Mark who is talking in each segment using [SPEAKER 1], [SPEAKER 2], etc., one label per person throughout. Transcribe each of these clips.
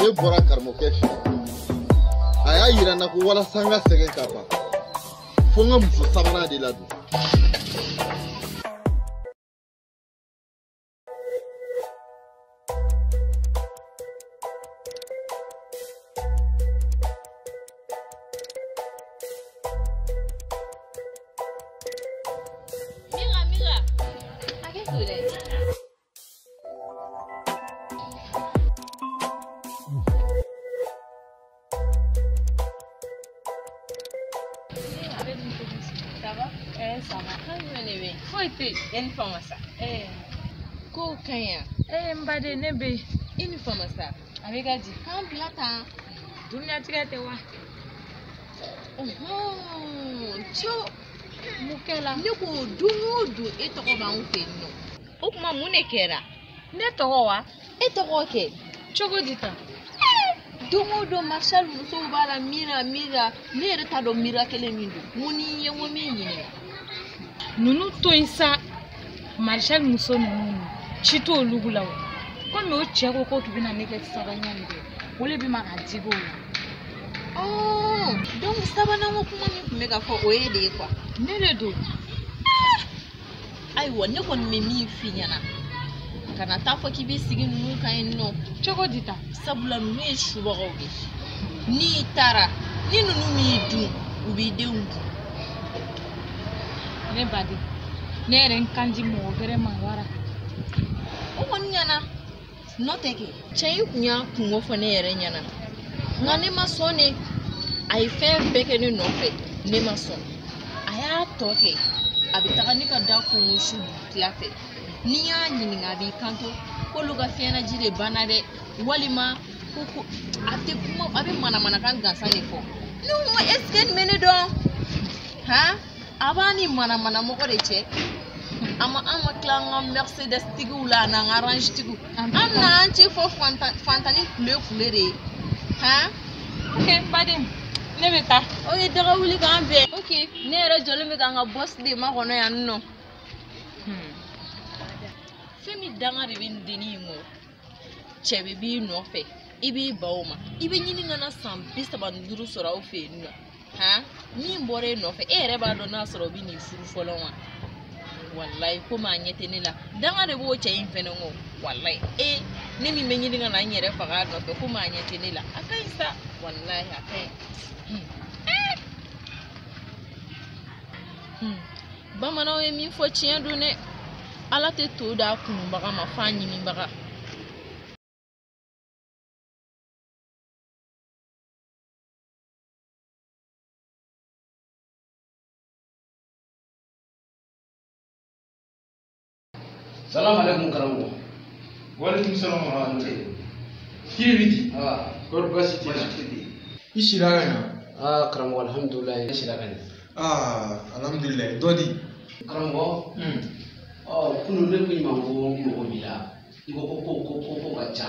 [SPEAKER 1] ne
[SPEAKER 2] bɔra karamɔgɔkɛ fɛ a y'a yira n na ko walasa n ka sɛgɛn ka ban fo n ka muso sabanan de ladon
[SPEAKER 3] baden ne
[SPEAKER 1] bɛ i ni fama sa
[SPEAKER 3] a bɛ ka di k'an
[SPEAKER 1] bila tan
[SPEAKER 3] duniyatigɛ
[SPEAKER 1] tɛ wa
[SPEAKER 3] co mun kɛla ne ko don o don e tɔgɔ b'anw fɛ yen nɔ o tuma mun de kɛra ne tɔgɔ
[SPEAKER 1] wa e tɔgɔ
[SPEAKER 3] kɛ cogo di
[SPEAKER 1] tan
[SPEAKER 3] don o don marshal musow b'a la mira mira ne yɛrɛ t'a dɔn mira kelen min don mun ni ye ko min ɲininka ninnu
[SPEAKER 1] to yen sa marshal muso ninnu ci t'olu la o komi o cɛ ko k'o tun bɛna ne kɛ sabanan min kɛ o de bɛ ma ka digi o la
[SPEAKER 3] donc sabanan ko kuma min tun bɛ ka fɔ o y'e de ye quoi ne de don ayiwa ne kɔni bɛ min f'i ɲɛna kana taa fɔ k'i b'i sigi ninnu kan yen nɔ cogo di
[SPEAKER 1] tan sabula ninnu ye
[SPEAKER 3] subagaw de ye n'i taara ni ninnu m'i dun u b'i denw
[SPEAKER 1] dun ne baden ne yɛrɛ n kan di mɔgɔ gɛrɛ ma
[SPEAKER 3] wara o kɔni ɲɛna n'o tɛ kɛ cɛ in tun y'a kunko fɔ ne yɛrɛ ɲɛna nka ne ma sɔn ne a ye fɛn bɛɛ kɛ ne nɔfɛ ne ma sɔn a y'a tɔ kɛ a bɛ taga ne ka da kɔnkɔn su dugutila fɛ n'i y'a ɲininka a b'i kanto k'olu ka fiɲɛnaji de banna dɛ walima ko ko a tɛ kuma a bɛ manamanakan gansan de fɔ ne ko est ce que nin bɛ ne dɔn han. a b'a ni manamanamɔgɔ de cɛ an ma an ma tila an ka mercedes tigiw la an'an ka range tigiw an n'an cɛ fɔ fantani kule kule de ye han
[SPEAKER 1] ok baden ne bɛ taa ok daga wuli
[SPEAKER 3] k'an bɛn ok ne yɛrɛ jɔlen bɛ k'an ka boss de makɔnɔ yan nɔ fɛn min danga de bɛ nin dennin in kɔ cɛ bɛɛ b'i nɔfɛ i b'i ban o ma i bɛ ɲini ka na san bi saba ni duuru sɔrɔ aw fɛ yen nɔ han min bɔra e nɔfɛ e yɛrɛ b'a dɔn n'a sɔrɔ o bɛ n'i furu fɔlɔ wa walayi komi a ɲɛ tɛ ne la danga de b'o cɛ in fɛnɛ kɔ walayi e ne min bɛ ɲini ka na n yɛrɛ faga a nɔfɛ komi a ɲɛ tɛ ne la a ka ɲi sa walayi a ka ɲi. Hmm. Hmm. bamananw ye min fɔ tiɲɛ don dɛ ala tɛ to d'a kunubaga ma f'a ɲininbaga
[SPEAKER 4] salamu alaikum karamɔgɔ
[SPEAKER 5] walekum salam warahmatullahi kiribiti kɔri basi t'i la i sira ka ɲa aa karamɔgɔ
[SPEAKER 4] alhamdulilayi ne sira ka ɲa
[SPEAKER 5] aa alhamdulilayi dɔ di
[SPEAKER 4] karamɔgɔ ɔ kunu ne ko i ma ko n mago b'i la i ko ko ko ko ko ka ca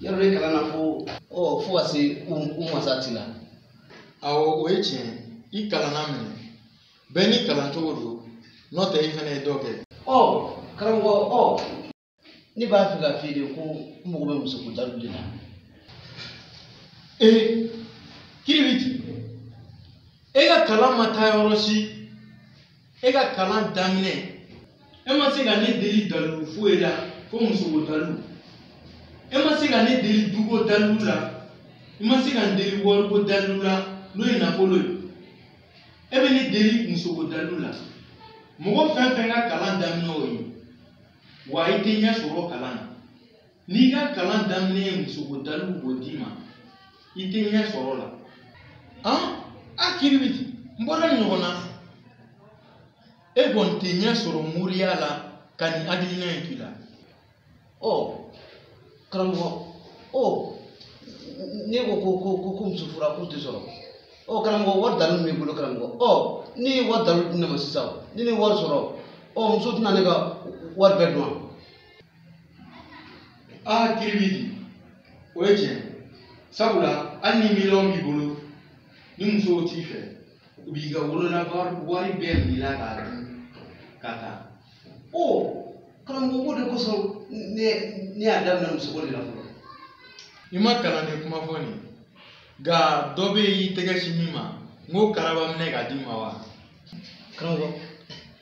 [SPEAKER 4] yɔrɔ ne kalanna fo ɔ fo ka se u u masa ti la
[SPEAKER 5] awɔ o ye tiɲɛ i kalanna minɛ bɛɛ n'i kalan cogo don n'o tɛ i fana ye dɔ kɛ ɔ karamɔgɔ
[SPEAKER 4] ɔ ne b'a fɛ k'a f'i ye ko n mago bɛ musoko dalu de la ee
[SPEAKER 5] kiribiti e ka kalan ma taa yɔrɔ si e ka kalan daminɛ e ma se ka ne deli dalilu foyi la fo musoko dalilu e ma se ka ne deli duko dalilu la i ma se ka n deli wariko dalilu la n'o ye nafolo ye e bɛ ne deli musoko dalilu la mɔgɔ fɛn fɛn ka kalan daminɛ o ye wa i tɛ ɲɛ sɔrɔ kalan na n'i ka kalan daminɛ ye musoko dalu b'o d'i ma i tɛ ɲɛ sɔrɔ la an a kiribiti an bɔra ɲɔgɔn na e kɔni tɛ ɲɛ sɔrɔ moriya la ka nin hakilina in t'i la
[SPEAKER 4] ɔ karamɔgɔ ɔ ne ko ko ko ko ko muso fura ko tɛ sɔrɔ ɔ karamɔgɔ wari dalu b'i bolo karamɔgɔ ɔ n'i ye wari dalu di ne ma sisan ni ne ye wari sɔrɔ ɔ muso tɛna ne ka wari bɛɛ dun
[SPEAKER 5] aa ah, kiribiti o ye tiɲɛ sabula hali ni miliyɔn b'i bolo ni musow t'i fɛ u b'i ka wolola wari bɛɛ b'i la k'a dun ka taa o
[SPEAKER 4] karamɔgɔ o de kosɔn ne ne y'a daminɛ musoko de la fɔlɔ i
[SPEAKER 5] ma kalanden kuma fɔ nin nka dɔ bɛ yen i tɛgɛ sin min ma n k'o karaba minɛ k'a d'i ma wa karamɔgɔ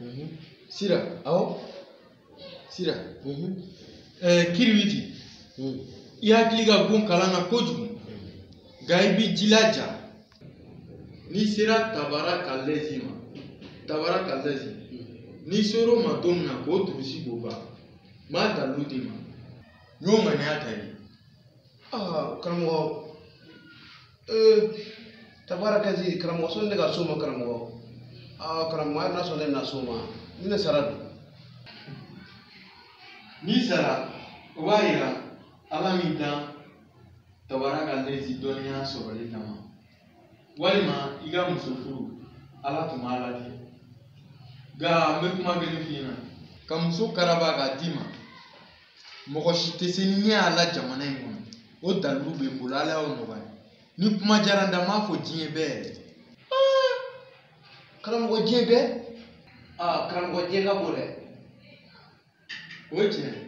[SPEAKER 5] Mhm. Sira, awo. Sira. Mhm. Eh, Kiribiti. Mhm. I hakili ka go kalan na kojugu. Nka i b'i jilaja. N'i sera Tabarakalɛzi ma, Tabarakalɛzi. N'i sera o ma don min na k'o durusi k'o ban, n b'a dalu d'i ma. N y'o ŋaniya ta i ye. Ah, karamɔgɔ.
[SPEAKER 4] ee tabarakazi karamɔgɔ sɔnni ne ka s'o ma karamɔgɔ aa karamɔgɔ hali n'a sɔrɔ ne bɛna s'o ma ni ne sara dun
[SPEAKER 5] n'i sara o b'a yira ala m'i dan tabarakalezi dɔnniya sɔrɔli kama walima i ka muso furu ala tun m'a latigɛ nka n bɛ kuma kelen f'i ɲɛna ka muso karaba k'a d'i ma mɔgɔ si tɛ se ni ne y'a la jamana in kɔnɔ o dalilu bɛ n bolo ala y'o nɔgɔya ni kuma diyara n da n b'a fɔ diɲɛ bɛɛ yɛrɛ
[SPEAKER 4] karamɔgɔ diɲɛ bɛɛ aa karamɔgɔ diɲɛ ka bon
[SPEAKER 5] dɛ o ye tiɲɛ ye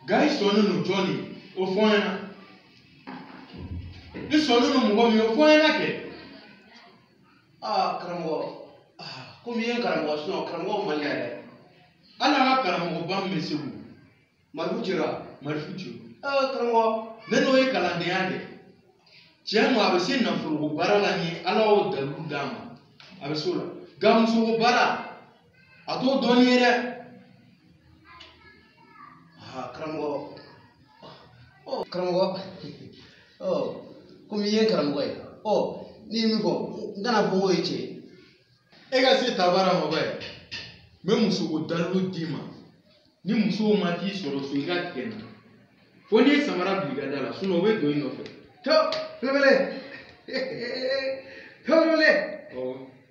[SPEAKER 5] nka i sɔnnen don jɔn de y'o fɔ n ɲɛna i sɔnnen don mɔgɔ min ye o fɔ n ɲɛna kɛ
[SPEAKER 4] aa karamɔgɔ komi i ye karamɔgɔ sinɔn karamɔgɔ man di yɛrɛ hali an ka
[SPEAKER 5] karamɔgɔba min bɛ segu marifu cira
[SPEAKER 4] marifu ci aa karamɔgɔ ne n'o
[SPEAKER 5] ye kalandenya de tiɲɛ ma a bɛ se nafoloko baara la ni ala y'o dalilu d'a ma a bɛ s'o la nka musoko baara a t'o dɔn ni n ye
[SPEAKER 4] dɛ aa karamɔgɔ ɔ karamɔgɔ ɔ komi i ye karamɔgɔ ye ɔ n'i ye min fɔ n kana fɔ n k'o ye tiɲɛ ye e ka
[SPEAKER 5] se tabara ma ba ye n bɛ musoko dalilu d'i ma ni musow ma t'i sɔrɔ so i ka tigɛ n na fo n'i ye samara bila i ka da la sinɔn o bɛ don i nɔfɛ to belebele
[SPEAKER 4] to
[SPEAKER 5] belebele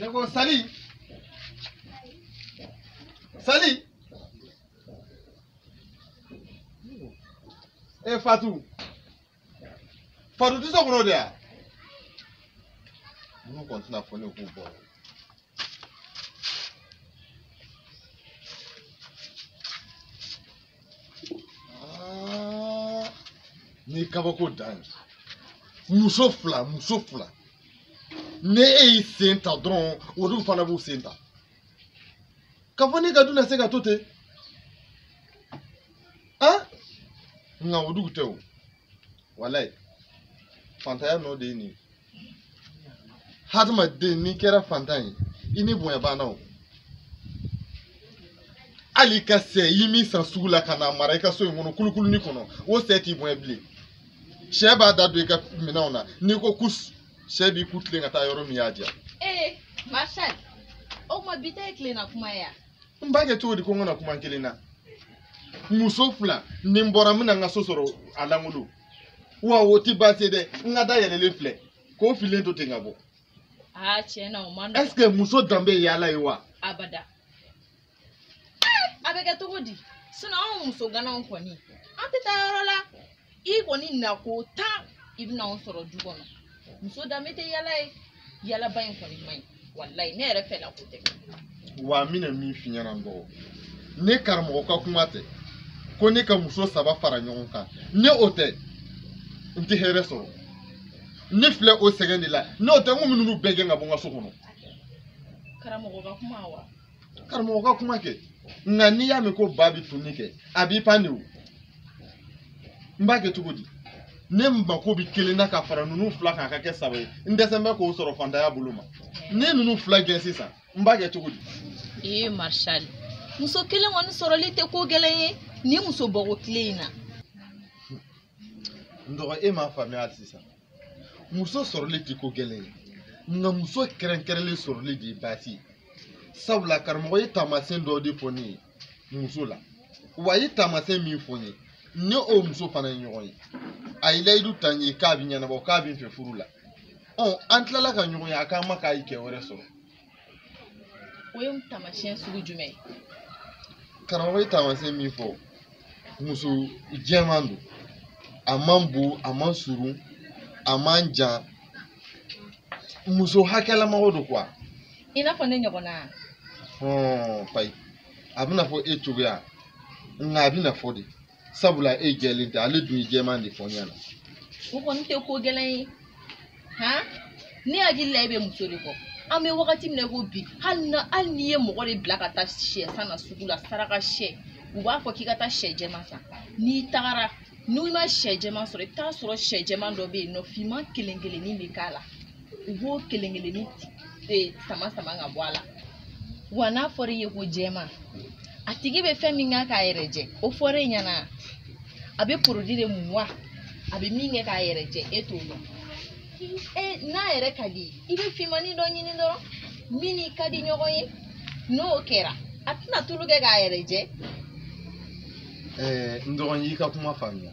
[SPEAKER 2] Ne ko sali sali e fatu Fatu tɛ so kɔnɔ de yan ninnu kɔni tɛna fɔ ne k'u bɔ nin kabako dan ye muso fila muso fila ni e y'i sen ta dɔrɔn olu fana b'u sen ta k'a fɔ ne ka du na se ka to ten an nka o dugu tɛ o walayi fantanya nɔ de ye nin ye hadamaden n'i kɛra fantan ye i ni bonya banna o hali i ka sɛ i min san sugu la ka n'a mara i ka so in kɔnɔ kulukuluni kɔnɔ o sɛ t'i bonya bilen sɛ b'a da don i ka minɛnw na n'i ko kus sɛ b'i ku tilen ka taa yɔrɔ min y'a diya ee
[SPEAKER 3] marshal o tuma bi ta ye tilenna kuma ye yan n b'a kɛ cogo di
[SPEAKER 2] ko n kana kuma n kelen na muso fila ni n bɔra n bɛna n ka so sɔrɔ a lankolon wa o tɛ baasi ye dɛ n ka da yɛlɛlen filɛ k'o fililen to ten ka bɔ aa tiɲɛ
[SPEAKER 3] na o man nɔgɔn est-ce que muso danbe ye
[SPEAKER 2] yaala ye wa abada
[SPEAKER 3] a bɛ kɛ cogo di anw muso ganaw kɔni an tɛ taa yɔrɔ la i kɔni nako tan i bɛna anw sɔrɔ du kɔnɔ muso danbe tɛ yaala ye yaalaba in kɔni man ɲi walayi ne yɛrɛ fɛla ko tɛ wa n bɛna
[SPEAKER 2] min f'i ɲɛna n dɔgɔ ni karamɔgɔ ka kuma tɛ ko ne ka muso saba fara ɲɔgɔn kan n'o tɛ n tɛ hɛrɛ sɔrɔ ne filɛ o sɛgɛn de la n'o tɛ n tun bɛ ninnu bɛɛ gɛn ka bɔ n ka so kɔnɔ karamɔgɔ
[SPEAKER 3] ka kuma wa karamɔgɔ ka
[SPEAKER 2] kuma kɛ nka n'i y'a mɛn ko ba bɛ tunni kɛ a b'i pan de o n b'a kɛ cogo di ne mako bɛ kelen na ka fara ninnu fila kan a ka kɛ saba ye n dɛsɛlen bɛ k'o sɔrɔ faantanya bolo n mana ninnu fila gɛn sisan n b'a kɛ cogo di. ee
[SPEAKER 3] marshal muso kelen kɔni sɔrɔli tɛ ko gɛlɛn ye nin muso bɔgɔ tile in na.
[SPEAKER 2] n dɔgɔ e m'a faamuya hali sisan. muso sɔrɔli tɛ ko gɛlɛn ye nka muso kɛrɛnkɛrɛnlen sɔrɔli de ye baasi ye sabula karamɔgɔ ye taamasiyɛn dɔ de fɔ ne ye muso la wa a ye taamasiyɛn min fɔ n ye ne n'o muso fana ye ɲɔgɔn ye a ye layidu ta n ye k'a bɛ ɲɛnabɔ k'a bɛ n fɛ furu la ɔ an tilala ka ɲɔgɔn ye a k'an ma k'a ye cɛ wɛrɛ sɔrɔ
[SPEAKER 3] o ye taamasiyɛn sugu jumɛn ye
[SPEAKER 2] karamɔgɔ ye taamasiyɛn min fɔ muso jɛman don a man bon a man surun a man jan muso hakɛlamɔgɔ don quoi i n'a fɔ
[SPEAKER 3] ne ɲɔgɔnna hɔn
[SPEAKER 2] payi a b'i n'a fɔ e cogoya nka a b'i n'a fɔ de sabula e jɛlen tɛ ale dun ye jɛman de fɔ n ɲɛna o kɔni
[SPEAKER 3] tɛ ko gɛlɛn ye han ne hakili la e bɛ muso de kɔ an bɛ wagati min na i ko bi hali na hali n'i ye mɔgɔ de bila ka taa sɛ san na sugu la saraka sɛ u b'a fɔ k'i ka taa sɛ jɛman san n'i tagara n'i ma sɛ jɛman sɔrɔ i bɛ t'a sɔrɔ sɛ jɛman dɔ bɛ yen nɔ finman kelen kelennin bɛ k'a la u b'o kelen kelennin sama sama ka bɔ a la wa n'a fɔra i ye ko jɛman a tigi bɛ fɛn min kɛ k'a yɛrɛ jɛ o fɔra e ɲɛna a bɛ produit de mun wa a bɛ min kɛ k'a yɛrɛ jɛ e t'o dɔn e n'a yɛrɛ ka di i bɛ finmannin dɔ ɲini dɔrɔn min n'i ka di ɲɔgɔn ye n'o kɛra a tɛna tulu kɛ k'a yɛrɛ jɛ
[SPEAKER 2] n dɔgɔ n y'i ka kuma faamuya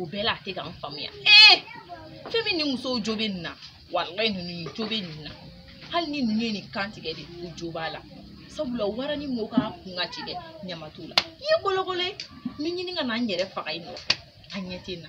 [SPEAKER 3] o bɛɛ la a tɛ ka n faamuya ee fɛn min ni musow jo bɛ nin na walayi ninnu jo bɛ nin na hali ni ninnu ye nin kan tigɛ de u jo b'a la sabula wara ni mɔgɔw k'a kun ka ci dɛ ɲama t'u la i ye kolokolo ye n bɛ ɲini ka na n yɛrɛ faga i nɔfɛ a ɲɛ tɛ n na